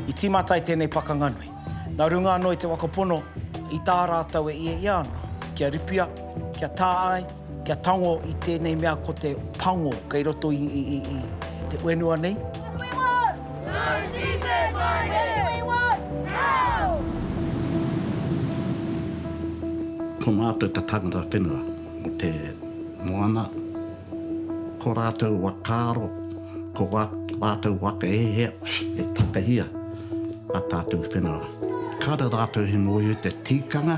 I tīmata ai tēnei pakanga nui. Nā runga anō i te waka pono, i tā rātou e ia ia ana, kia ripia, kia tā ai, kia tango i tēnei mea ko te pango kei roto i te whenua nei. No seabed mining! We want coal! Ko mātou te tangata whenua o te moana, ko rātou whakaaro, ko wā rātou whakahehea e takahia a tātou whenua. Kāre rātou he mōhio te tīkanga,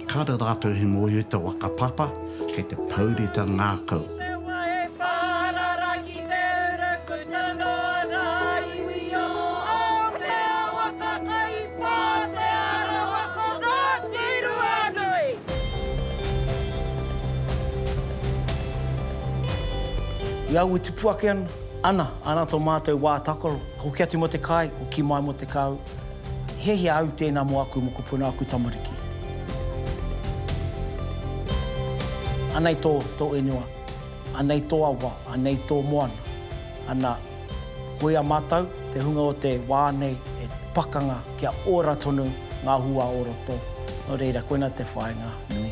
kāre rātou he mōhio te whakapapa kei te pouritangakau. Te ura kutanga ngā iwi o Aotearoa ka kai pā te arawa ko Ngāti Ruanui. I au e tupu ake ana, ana, ana to matou wa takaro, hoki atu mo te kai, hoki mai mo te kau, hiahia au tena mo aku mokopuna, aku tamariki. Anei to, to whenua. Anei tō awa, anei tō moana. Ana, koia mātou, te hunga o te wā nei e pakanga kia ora tonu ngā hua o roto. Nō reira, koina te whāinga nui.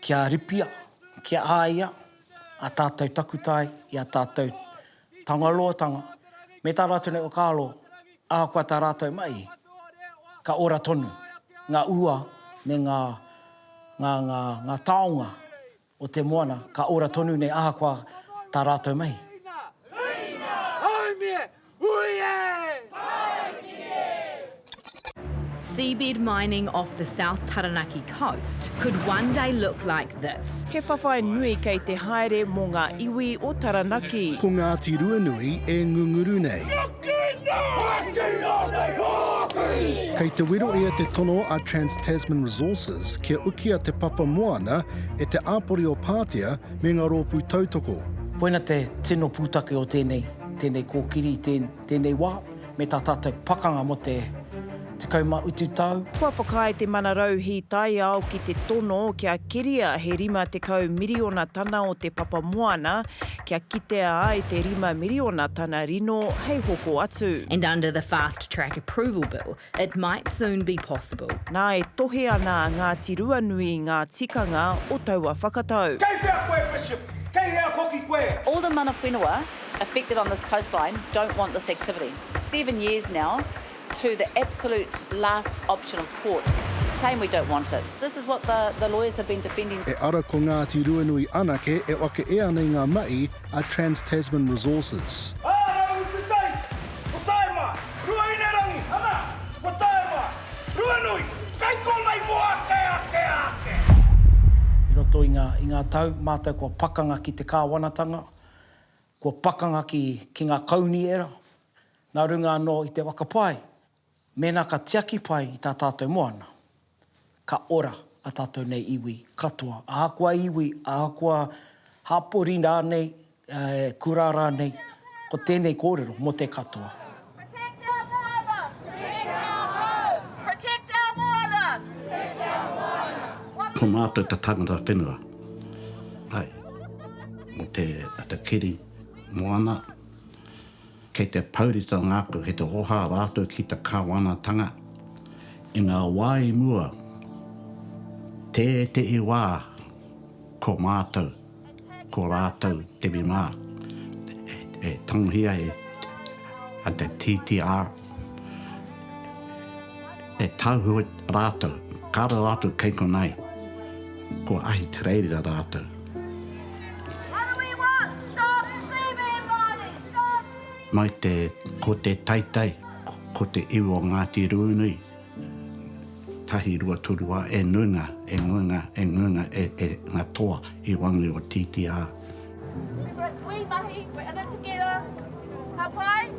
Kia ripia, kia āia a tātou takutai i a tātou tangaroatanga, me tā rātou nei whakaaro, ahakoa tā rātou mahi, ka ora tonu ngā ua me ngā, ngā, ngā, ngā taonga o te moana, ka ora tonu nei ahakoa tā rātou mahi. Huinga! Huinga! Haumia! Hui e! Seabed mining off the South Taranaki coast could one day look like this. He whawhai nui kei te haere mō ngā iwi o Taranaki. Ko Ngāti Ruanui e ngunguru nei. Kei te wero ia te tono a Trans-Tasman Resources kia ukia te papa moana e te āpori o Pātea me ngā rōpū tautoko. Koina te tino pūtake o tēnei. Tēnei kōkiri i tēnei wā, me tā tātou pakanga mō te 19 tau. Kua whakaae te Mana Rauhī Taiao ki te tono kia keria he 50 miriona tana o te papa moana, kia kitea ai te 5 miriona tana rino hei hoko atu. And under the Fast Track Approval Bill, It might soon be possible. Nā e tohe ana a Ngāti Ruanui i ngā tikanga o taua whakatau. Kei whea koe Bishop? Kei hea hoki koe? All the mana whenua affected on this coastline don't want this activity. Seven years now to the absolute last option of courts saying we don't want it. This is what the the lawyers have been defending. E ara ko Ngāti Ruanui anake e whake ea nei ngā mahi. a Trans Tasman Resources. Āraru te tai, ko tae mā, Ruahinerangi, ana, ko tae mā, Ruanui, kai konei mō ake, ake, ake! I roto i ngā, i ngā tau, mātou kua pakanga ki te kāwanatanga, kua pakanga ki, ki ngā kaunihera, nā runga anō i te waka pai, Mēnā ka tiaki pai i tā tātou moana, ka ora ā tātou nei iwi katoa, ahakoa iwi, ahakoa hapori rānei, kura rānei, ko tēnei kōrero mō te katoa. Protect our moana! Protect our home! Protect our moana! Protect our moana! Ko mātou te tangata whenua, āe, mō te kiri moana. Kei te pourita ngāku ki te hoha rātou ki te Kāwanatanga. I ngā wā i mua, tētehi wā ko mātou, ko rātou te mimā, e tangohia e te TTR, e tāuhua rātou, kāore rātou kei konā i, ko Ahitereiria rātou. mai te ko te taitai ko te iwi o Ngāti Ruanui tahi rua toru a e nuinga e nuinga e nuinga e e nga toa i wangi o titia. Wī mahi, we're in it together, ka pai?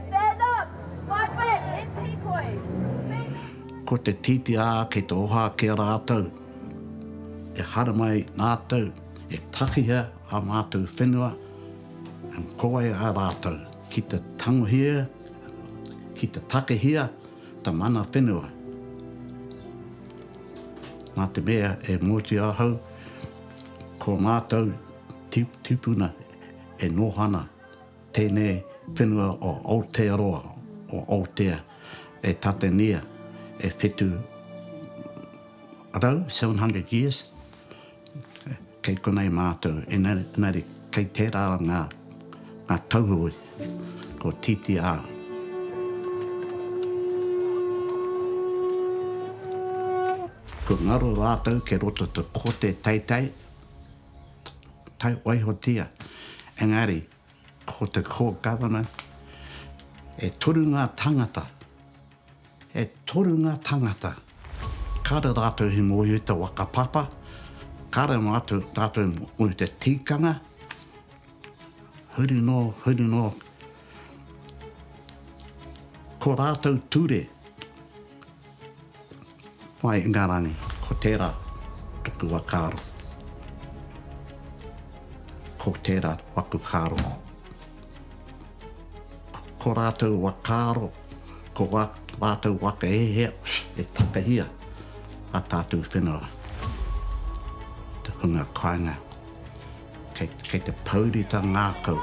Stand up, fight back, let's hīkoi, meet me! Ko te titia kei te oha ki a rātou, e haramai nātou e takihia a mātou whenua, Ko wai a rātou ki te tangohia, ki te takehia ta mana whenua? Na te mea e moti ahau, ko matou tipuna e noho ana tēnei whenua o Aotearoa, o Aotea, e tatengia e whetu rau, 700 years, Kei konei mātou, engari kei tērā ngā tauhoe, ko TTR. Kua ngaro rātou kei roto te kote teitei, taiwaihotia, engari ko te Core Government, e toru ngā tāngata, E toru ngā tangata. Kāre rātou i mōhio i te waka papa, kāre noa atu rātou i mōhio i te tīkanga. Huri noa, huri noa. Ko rātou ture, Wai Ingarangi, ko tērā tuku whakaaro. Ko tērā waku karo. Ko rātou whakaaro, ko wā rātou whakahē e takahia a tātou whenua, te hunga kāinga, kei, kei te pouri ta ngākau.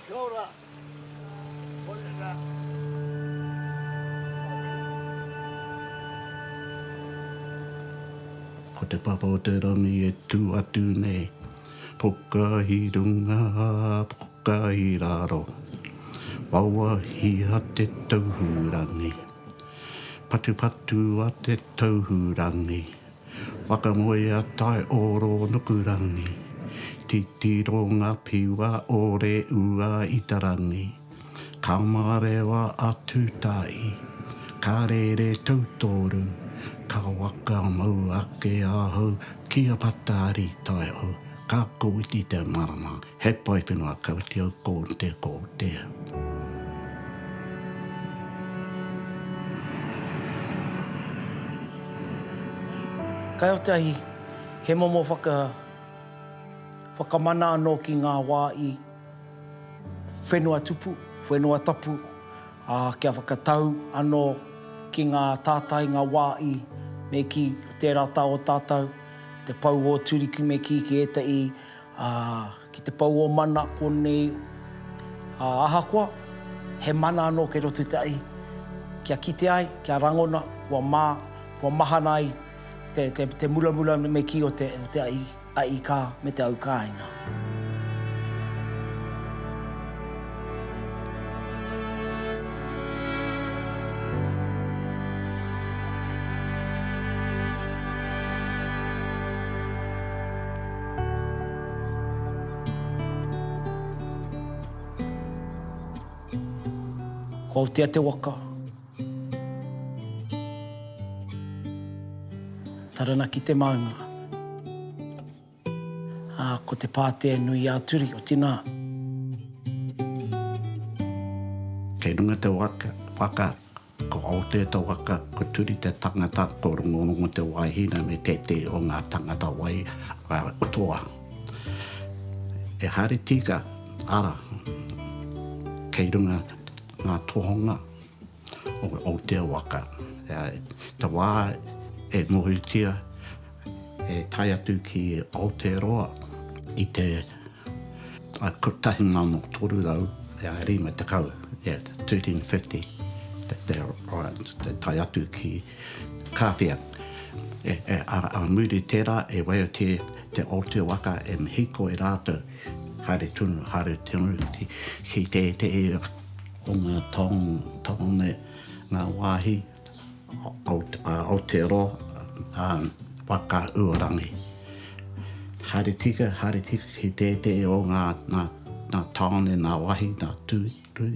Kia ora. Koia ra. Ko te papa o te rangi e tu atu nei. Poka hi runga, poka hi raro. Wawahia te tauhu rangi. Patupatu a te Tauhurangi. Whakamoe a Taiōro Nukurangi. Titiro ngā piwa o Reua i te rangi. Ka mārewa a Tūtāi. Ka rere tautoru. Ka whakamau ake ahau ki a Patari Taiao. Ka kōti te marama. He pai te ngākautia ko te ko te. Kai o te ahi, he momo whaka, whakamana anō ki ngā wā i whenua tupu, whenua tapu, ā, kia whakatau anō ki ngā tātai, ngā wā i, me kī, tērā tā o tātau, te pou o Turiku me kī ki ētahi Ā, ki te pou o mana konei, ā, ahakoa, he mana anō kei roto i te ahi, kia kite ai, kia rangona, kua mā, kua mahana ai te, te, te muramura me kī o te, o te ahi, ahi kā, me te au kāinga. Ko Aotea te waka. Taranaki te maunga. Ā, ko te pātea nui ā-turi, oti nā. Kei runga te waka. Ko Aotea te waka, ko Turi te tangata, ko Rongorongo te wāhina me tētehi o ngā tangata wai a Toa. E Hāri Tika, ara, kei runga ngā tohonga o Aotea waka. Te wā e mohitia. e tae atu ki Aotearoa i te 1350, yeah, 1350, e tae atu ki Kāwhia. Ā muri i tērā, e waia kē te Aotea waka, e hīkoi rātou haere tonu, haere tonu ki tētehi o ngā taone, ngā wāhi. Aotearoa, Whakauorangi. Haere tika, haere tika ki tētehi o ngā tāone, ngā wāhi, ngā tūrui,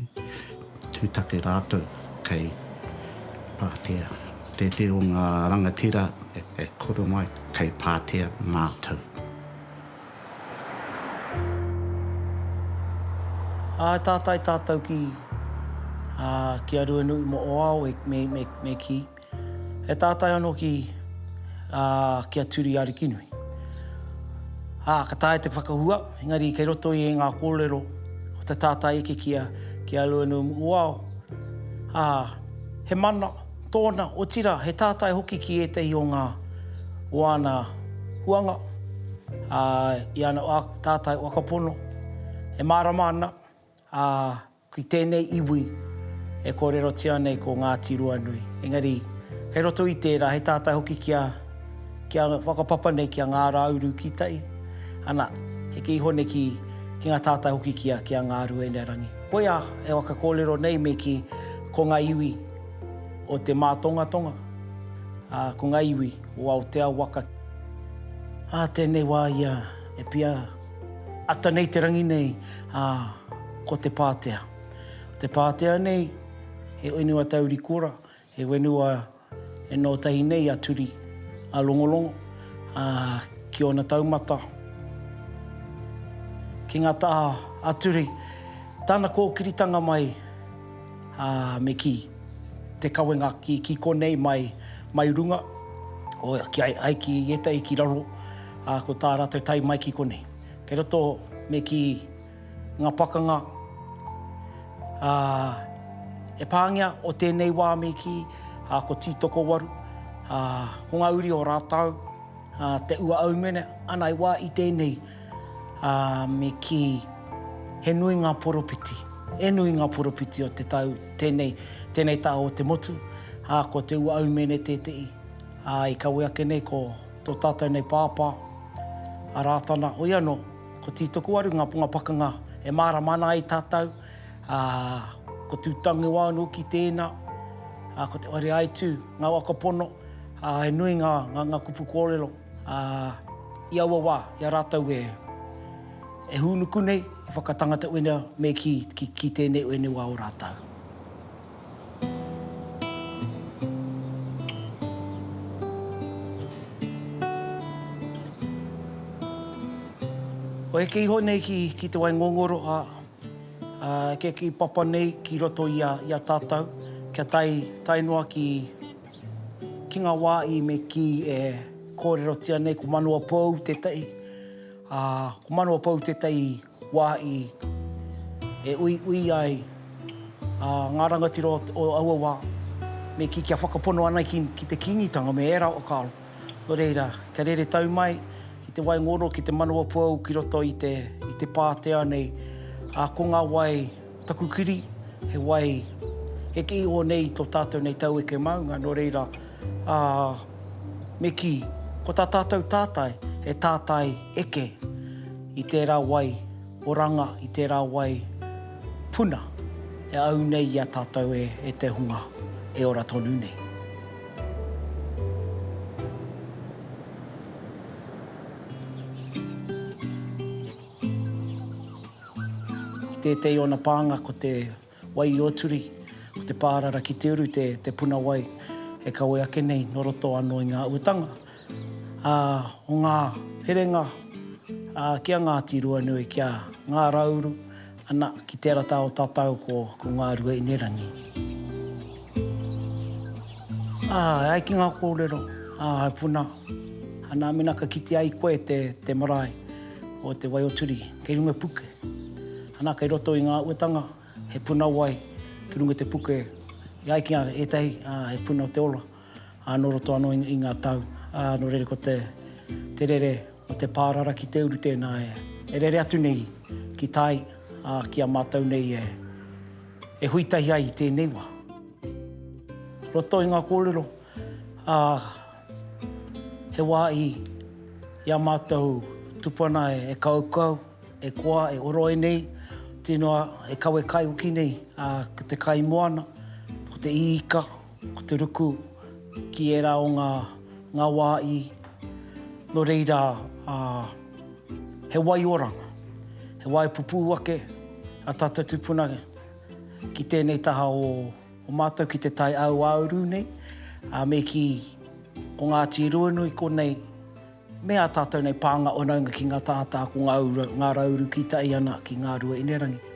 tūtaki rātou kei Pātea. Tētehi o ngā rangatira e kore mai kei Pātea mātou. Ā, e tātai tātou ki, ā, ki a Ruanui mō ō ao e, me, me, me kī, E tātai anō ki, ā, ki a Turi Arikinui. Ā, ka taea te whakahua, engari kei roto i ngā kōrero o te tātai eke ki a, ki a Ruanui mō ō ao, ā, he mana, Tōna, otirā, he tātai hoki ki ētahi o ngā o āna huanga, ā, i ana tātai whakapono e mārama ana, ā, ki tēnei iwi e kōrerotia nei ko Ngāti Ruanui. Engari, kei roto i tērā, he tātai hoki kia, kia whakapapa nei ki a Ngā Rāuru ki tai, ana, heke iho nei ki, ki ngā tātai hoki ki a, ki a Ngāruenearangi. Koia e whakakōrero nei me kī, ko ngā iwi. o te mātongatonga, ā, ko ngā iwi o Aotea waka. Ā tēnei wā ia e pia ata nei te rangi nei, ā, ko te Pātea. Te Pātea nei, he whenua tauri kura, he whenua e noho tahi nei a Turi, a Longolongo, ā, ki ōna taumata, ki ngā taha a Turi, tāna kōkiritanga mai, Ā, me kī, Te kawenga ki, ki konei mai, mai runga, o, ki ai, ai ki ētahi ki raro, ā, ko tā rātou tae mai ki konei. Kei roto, me kī, ngā pakanga, ā, e pāngia o tēnei wā me kī, ā, ko Tītokowaru, ā, ko ngā uri o rātou, ā, te ua aumene, ana i wā i tēnei. Ā, me kī, He nui ngā poropiti, he nui ngā poropiti o te tau tēnei, tēnei taha o te motu, ā, ko Te Ua Aumēne tētehi, ā, i kawe ake nei ko tō tātou nei pāpā, a Rātana, hoi anō, ko Tītokowaru ngā ponga pakanga e mārama ana ai tātou, ā, ko Tūtangewa anō ki tēnā, ā, ko Te Whareaitū, ngā waka pono, ā, he nui ngā, ngā, ngā kupu kōrero. Ā, i aua wā, i a rātou e, e hūnuku nei, e whakatangata ue nei, me kī, ki, ki tēnei ue nei wā o rātou. Kua heke iho nei ki, ki te wai ngongoro, ā, ā, kia kī papa nei ki roto i a, i a tātou, kia tae, tae noa ki, Ki ngā wā i me kī e kōrerotia nei ko Manuapou tētahi, ā, ko Manuapou tētahi wā i e uiui ai ngā rangatira o aua wā me kī kia whakapono ana ki te Kīngitanga me ērā o Karo. Nō reira, kia rere tau mai ki te wai ngoro, ki te Manuapou ki roto i te pātea nei, ā, ko ngā wai, Taku kiri, he wai, he kii o nei i to tatou nei taueke maunga, no reira, a, me ki, ko ta tatou tatae, he tatae eke i tera wai oranga, i tera wai puna e au nei i a tatou e, e te hunga e ora tonu nei. Ki tētehi o ana pānga ko te wai i Oturi, ko te pārara ki te uru te puna wai e kawe ake nei nō roto anō i ngā uatanga o ngā herenga ki a Ngāti Ruanui, ki a Ngā Rauru, ana, ki tērā tā o tatau ko Ngā Ruainirangi. Ā, e ai ki ngā kōrero, ā, he puna, anā, mēnā ka kitea ai koe te, te marae o Te Waioturi kei runga i puke, anā, kei roto i ngā uetanga, he puna wai ki runga i te puke, e ai ki ngā ētahi, ā, he puna o te ora, ā, nō roto anō i ngā tau, ā, nō reira ko te, te rere o te pārara ki te uru tēnā e, e rere atu nei ki tai, ā, ki a mātou nei e. E hui tahi ai i tēnei wā. Roto i ngā kōrero, ā, he wā i ā mātou tupuna e kaukau, e koa, e oro ai nei, tino e kawe kai hoki nei, ā, ko te kaimoana, ko te īka, Ko te ruku ki ērā o ngā, ngā wā i, nō reira, ā, he waioranga, he waipupū ake ā tātou tūpuna ki tēnei taha o, o mātou ki te tai āuāuru nei, ā, me kī, ko Ngāti Ruanui konei, Me ā tātou nei pānga whanaunga ki ngā tātā ko ngā ura, ngā rauru ki tai ana ki ngā rua inerangi.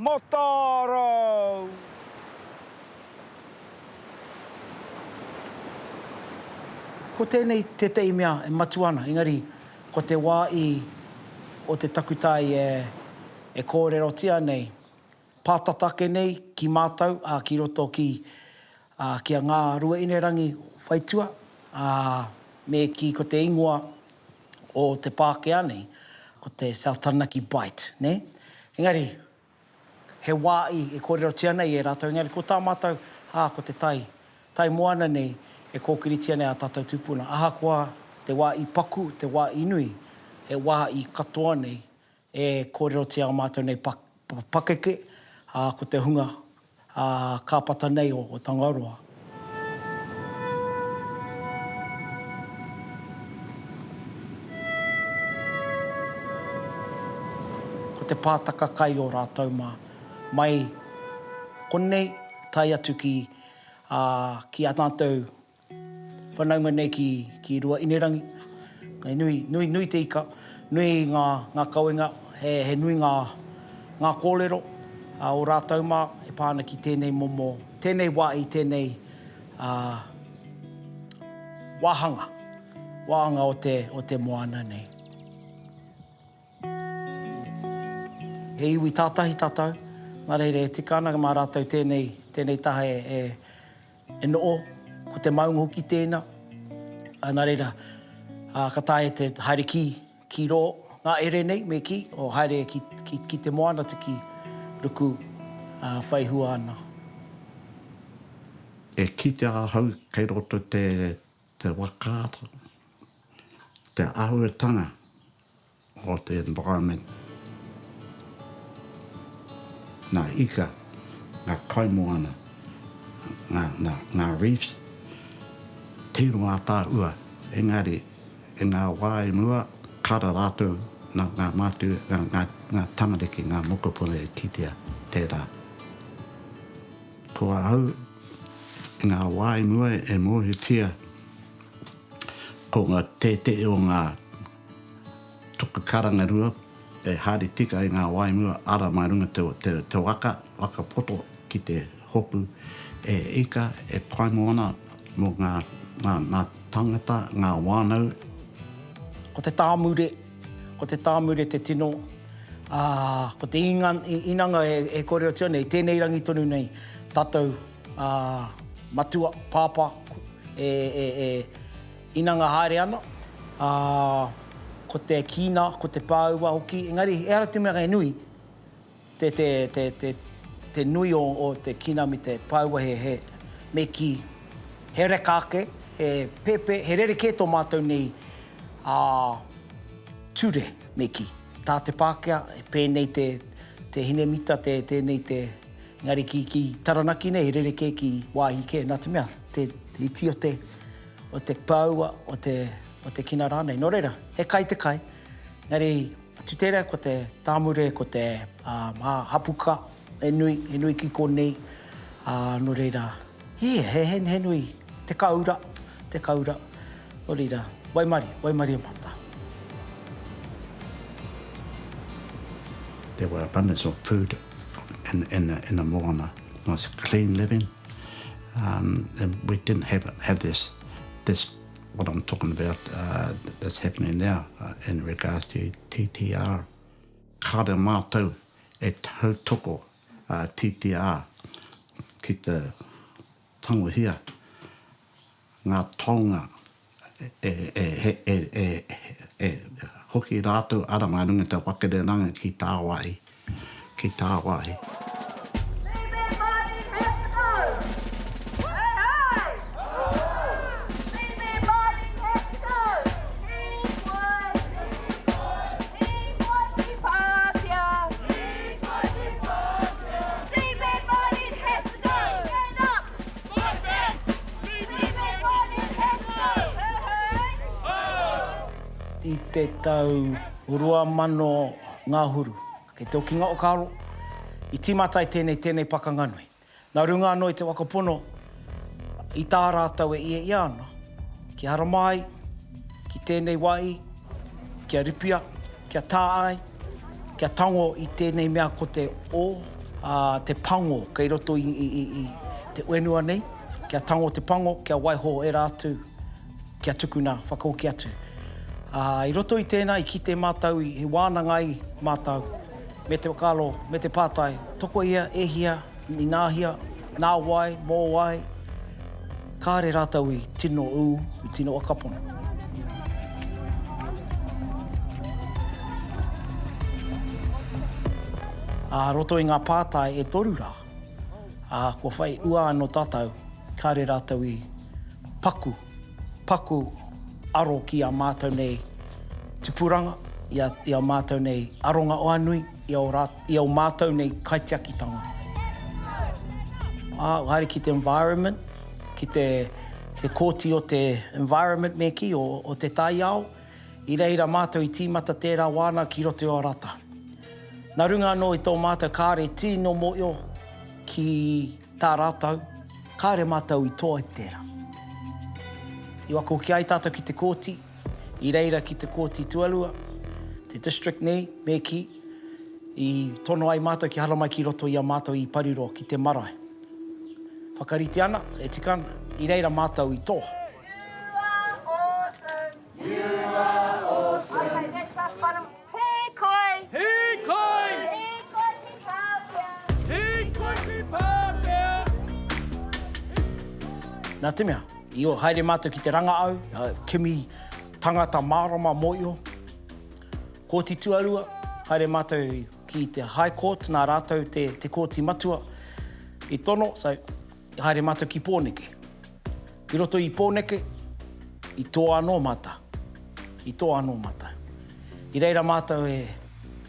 Matarau! Ko tēnei tētehi mea e matua ana, engari ko te wā i o te takutai e kōrerotia nei, pātata ake nei ki mātou, ā, ki roto ki Ā, ki a Ngā Ruainirangi whaitua, ā, me kī ko te ingoa o te Pākehā nei, ko te South Taranaki Bight, nē? Engari, he wā i, e kōrerotia nei e rātou, engari ko tā mātou, ā, ko te tai, tai moana nei, e kōkiritia nei ā tātou tūpuna. Ahakoa te wā i paku, te wā i nui, he wā i katoa nei. E kōrerotia a mātou nei pakeke, ā, ko te hunga, ā, kāpata nei o Tangaroa. Ko te pātaka kai o rātou mā, mai konei tae atu ki, ā, ki a mātou Whanaunga nei ki, ki Rua-ine-rangi. Hei nui, nui, nui te ika, nui ngā, ngā kawenga, he, he nui ngā, ngā kōrero, ā, o rātou mā e pā ana ki tēnei momo, tēnei wā i tēnei, ā, wāhanga, wāhanga o te, o te moana nei. He iwi tātahi tātou, nā reira e tika ana mā rātou tēnei, tēnei taha e, e, E noʻo, ko te maunga hoki tēnā. Ā, nā reira, ā, ka taea te haere ki, ki rō ngā ere nei, me kī, o haere ki, ki, ki te moana te kī, ruku, ā, whai hua ana. E kitea ahau kei roto te, te wakaata, te auetanga o te environment, ngā ika, ngā kaimoana, ngā reefs, tironga ataahua, engari i ngā wā i mua, kara rātou nā ngā mātua, ngā tamariki, ngā mokopuna i kitea tērā. Ko ahau, i ngā wā i mua e mōhiotia ko ngā tētehi o ngā. Toka karanga rua, e haere tika ai ngā waimua ara mā runga te waka, waka poto ki te hopu e ika, e pai moana mō ngā tangata, ngā wānau. Ko te tāmure, ko te tāmure te tino, ā, ko te inanga e kōrerotia nei, tēnei rangi tonu nei, tātou matua, pāpā, Inanga haere ana, ā, ko te kīnā, ko te pāua hoki, engari ehara te mea he nui te, te, te, te, te nui o, o te kīnā me te pāua he, he, me kī, he reka ake, he pēpē, he rerekē tō mātou nei, ā, ture, me kī. Tā te Pākehā, e pēnei te, te hine mita, te, tēnei te, engari ki, ki Taranaki nei he rerekē ki wāhi kē, nā te mea, te, he tio te. o te pāua, o te, o te kina rānei. Nō reira, he kai te kai, engari tu tērā ko te tāmure, ko te uh, hapuka, he nui, he nui ki konei. Uh, nō reira, he, he, he, he nui, te kaura, te kaura. Nō reira, waimari, waimari e mata. There were abundance of food in, in, the, in the moana. It was clean living. We didn't have have this this what I'm talking about uh, that's happening now uh, in regards to TTR. Kāre mātou e tautoko uh, TTR ki te tangohia ngā taonga e hoki rātou ara mā runga i te whakareranga ki tāwāhi, ki tāwāhi. I te tau rua mano ngahuru, kei te okinga o Karo, i timata ai tēnei tēnei pakanga nui. Na runga anō i te waka pono, i tā rātou e ia ia ana, ki Haramai, ki tēnei wāhi, ki a Ripia, Kia tā ai, kia tango i tēnei mea ko te o, ā, te pango kei roto i, i, i, i te whenua nei, kia tango te pango, kia waiho ērā atu, kia tukuna whakahoki atu. Ā, i roto i tēnā, i kite mātou i, he wānanga ai mātou, me te whakaaro, me te pātai, tokohia, e hia, ināhia, Nā wai, mō wai, kāre rātou i tino ū, i tino whakapono. Ā roto i ngā pātai e toru rā, ā, kua whai ua anō tātou, kāre rātou i paku. paku aro ki a mātou nei tipuranga, i a mātou nei aronga o anui, i o mātou nei kaitiakitanga. Haere ki te environment, ki te kōti o te environment me kī, o te taiao, i reira mātou i tīmata tērā wāna ki roto i o rata. Nā runga anō i tō mātou kāre tino mōio ki. Tā rātou, kāore mātou i toa i tērā. I whakahoki ai tātou ki te kōti, i reira ki te Kōti Tuarua, te District nei, me kī, i tono ai mātou kia haramai ki roto i a mātou i Pariroa ki te marae. Whakarite ana, e tika ana, i reira mātou i toa. You are awesome. You are awesome. Okay, that's us, whānau. Hīkoi! Hīkoi! Hīkoi ki Pātea! Hīkoi ki Pātea! Nā te mea, io, haere mātou ki te ranga au, kimi tangata mārama mō io. Kōti Tuarua, haere mātou ki te High Court, nā rātou te Kōti Matua i tono, so, Haere mātou ki Pōneke. Ki roto i Pōneke, i toa anō mātou. I toa anō mātou. I reira mātou e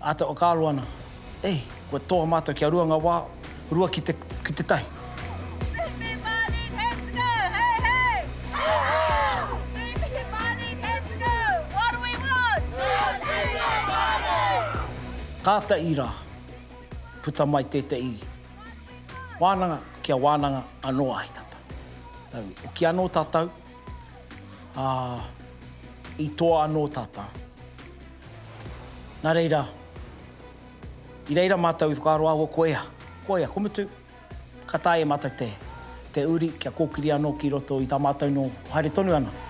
āta whakaaro ana, e, kua toa mātou kia rua ngā wā, rua ki te, ki te tahi. Kātahi rā, puta mai tētahi. Wānanga kia wānanga anō ai tātou. Tau oki anō tātou, ā, i toa anō tātou. Nā reira, i reira mātou i whakaaro āua ko ea, ko ea, ko Mutu, ka taea e mātou te, te uri kia kōkiri anō ki roto i tā mātou nō haere tonu ana.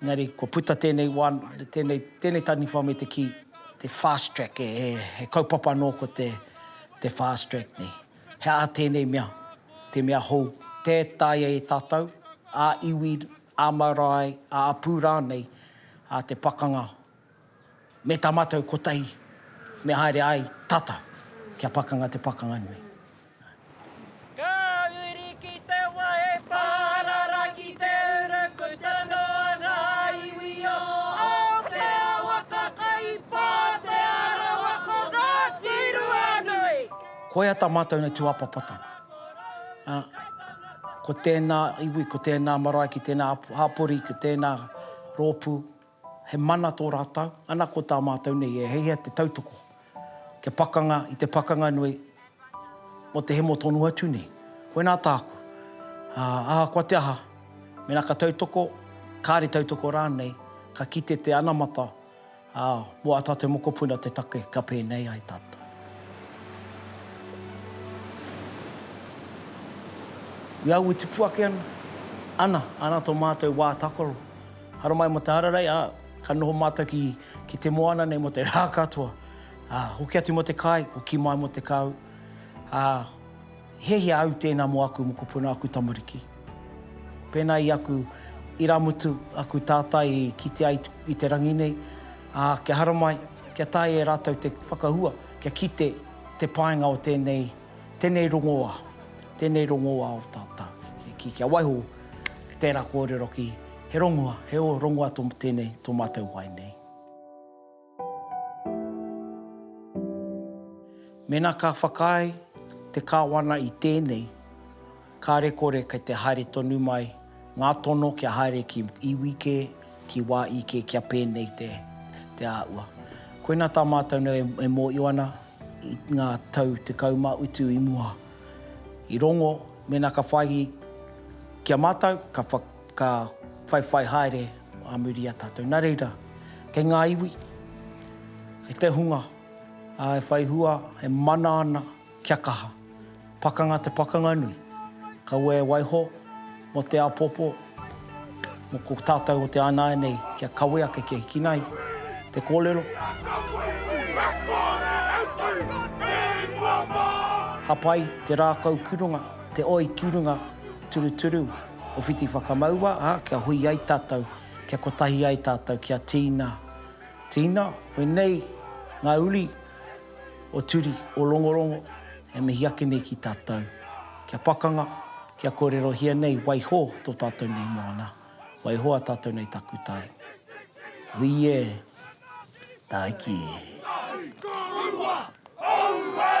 Engari kua puta tēnei wā, tēnei, tēnei taniwha me te kī, te fast track, he, he, he kaupapa anō ko te, te fast track nei. He aha tēnei mea, te mea hou, tē taea e tātou, ā-iwi, ā-marae, ā-apū rānei, ā, te pakanga Me tā mātou kotahi me haere ai tata ki a Pakanga te Pakanga nui. Ka huri ki te wahe pārara ki te urukuta nō ngā iwi o Aotearoa ka kaipātea rawa ko Ngāti Ruanui. Koia tā mātou nei tūāpapatanga, ā, ko tēnā iwi, ko tēnā marae ki tēnā hapori, ko tēnā rōpū. He mana tō rātou, ana ko tā mātou nei e heihea te tautoko kia pakanga i te pakanga nui mō te hemo tonu atu nei. Koinā tāku, ahakoa te aha, mēnā ka tautoko, kāre tautoko rānei, ka kite te anamata mō ā tātou mokopuna te take kia pēnei ai tātou. I au e tipu ake ana, ana, ana tō mātou wā tākaro. Haramai mo te hararai, a, ka noho matou ki, ki te moana nei mo te ra katoa, a, hoki atu mo te kai, hoki mai mo te kahu, a, he hea au tena mo aku mokopuna, aku tamariki. Pena i aku iramutu, aku tata i kite ai i te rangi nei, a, kia haramai, kia taea e ratou te whakahua, kia kite te paenga o tenei Tenei rongoa, tenei rongoa o tatou. Ki, kia waiho ki tera korero ki, he rongoa, he o, rongoa to, tenei to matou wai nei. Mena ka whakaae te Kawana i tenei, Kāre kore kei te haere tonu mai ngā tono kia haere ki iwi kē, ki wā i kē kia pēnei te te āhua. Koina tā mātou nei e mōio ana i ngā tau tekau mā utu i mua. I rongo mēnā ka whai ki a mātou ka ka whaiwhai haere ā muri i a tātou. Nā reira, kei ngā iwi, kei te hunga, ā, e whai hua, e mana ana. Kia kaha. Pakanga te pakanga nui. Kaua e waiho mo te apopo mo ko tatou o te anae nei kia kawe ake kia hiki nai te kolelo. Hapai te rakau kurunga, te oi kurunga turuturu o Whiti Whakamaua a kia hui ai tatou, kia kotahi ai tatou kia tina, tina, wenei nga uri. O Turi, o Rongorongo, e mihi ake nei ki tatou. Kia pakanga, kia korerohia nei, waiho to tatou nei moana, waiho a tatou nei takutai. Hui e, Taiki e. Tahi korua, Aue!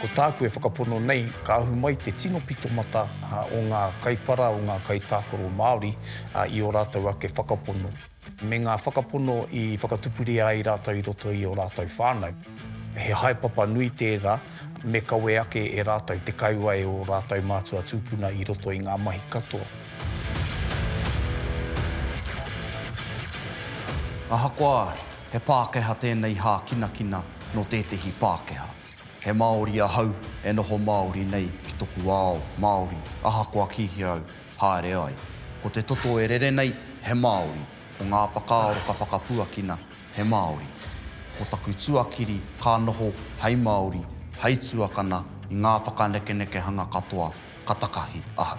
Ko tāku e whakapono nei, ka ahu mai te tino pitomata o ngā kaipara, o ngā kaitākaro Māori i ō rātou ake whakapono, me ngā whakapono i whakatupuria ai rātou i roto i ō rātou whānau. He haepapa nui tērā, me kawe ake e rātou te kaua e ō rātou mātua tūpuna i roto i ngā mahi katoa. Ahakoa he Pākehā tēnei hākinakina nō tētehi Pākehā, he Māori ahau e noho Māori nei ki toku ao Māori ahakoa kīhia au haere ai. Ko te toto e rere nei he Māori, ko ngā whakaaro ka whakapuakina he Māori. Ko taku tuakiri ka noho hei Māori, hei tuakana i ngā whakanekenekehanga katoa ka takahi ahau.